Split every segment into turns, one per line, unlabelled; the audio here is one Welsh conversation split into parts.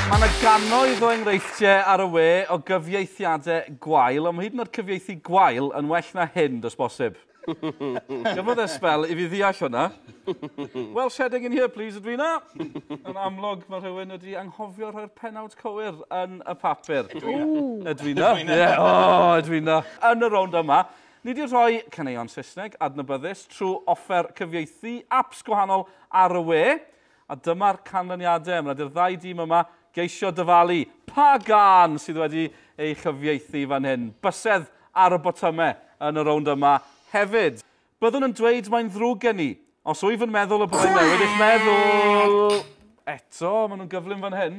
Mae yna gannoedd o enghreifftiau ar y we o gyfieithiadau gwael, ond mae hyd yn oed cyfieithu gwael yn well na hyn, does bosib. Gymrodd e sbel i fi ddeall hwnna. Welsh heading in here please, Edwina. Yn amlwg, mae rhywun wedi anghofio rhoi'r pennawd cywir yn y papur. Edwina. Edwina. Edwina. Ie, o, Edwina. Yn y rownd yma, Nid yw rhoi caneuon Saesneg adnabyddus trwy offer cyfieithu aps gwahanol ar y we, a dyma'r canlyniadau, mae 'na di'r ddau dîm yma geisio dyfalu pa gân sydd wedi ei chyfieithu fan hyn. Bysedd ar y botymau yn y rownd yma hefyd. Byddwn yn dweud mae'n ddrwg gen i, os wyf yn meddwl y byddai newid eich meddwl! Eto, maen nhw'n gyflym fan hyn.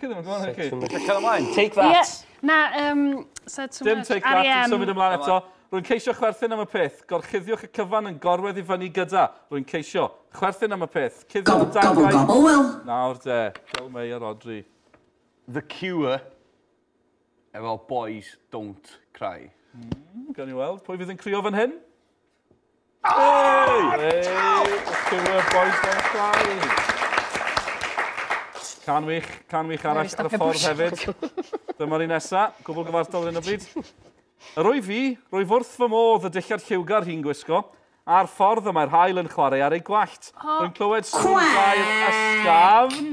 Chi ddim yn gwybod chi. Sut ti'n cael ymlaen? Take that!
Yeah. Na, um,
said too Dim much. take that, yn symud
ymlaen eto. Rwy'n ceisio chwerthin am y peth. Gorchuddiwch y cyfan yn gorwedd i fyny gyda. Rwy'n ceisio. Chwerthin am y peth. Cuddio am dan Gobl, gobl, wel. Nawr de, Bill May a Rodri. The
Cure efo Boys Don't Cry. Mm, gan i
weld, pwy fydd yn crio fan hyn? Can wych, can wych arall ar y ffordd hefyd. Dyma'r un nesa, gwbl gyfartal yn y bryd. Yr o'i fi, rwyf wrth fy modd y dillad lliwgar hi'n gwisgo, a'r ffordd y mae'r hael yn chwarae ar ei gwallt. Rwy'n clywed sŵn gael ysgafn.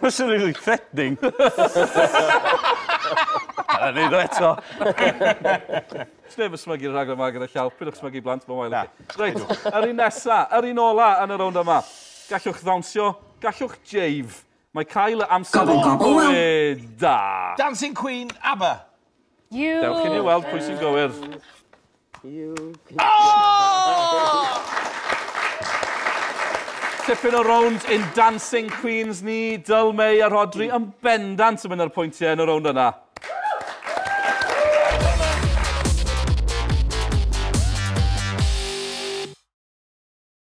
That's really threatening. A ni ddo eto. Sneb
yn smygu rhaglen yma gyda llaw. Pidwch smygu blant, mae'n wael. Reit, yr un nesa, yr un ola yn y rownd yma. Gallwch ddawnsio, gallwch jave. Mae cael y amser... Gobl, gobl, wel. Da. Dancing Queen,
ABBA. You Dewch
i ni weld pwy sy'n gywir. You can... Oh! Tipyn o rownd in Dancing Queens ni, Dyl, May a Rodri yn bendant yn mynd ar pwyntiau yn y rownd yna.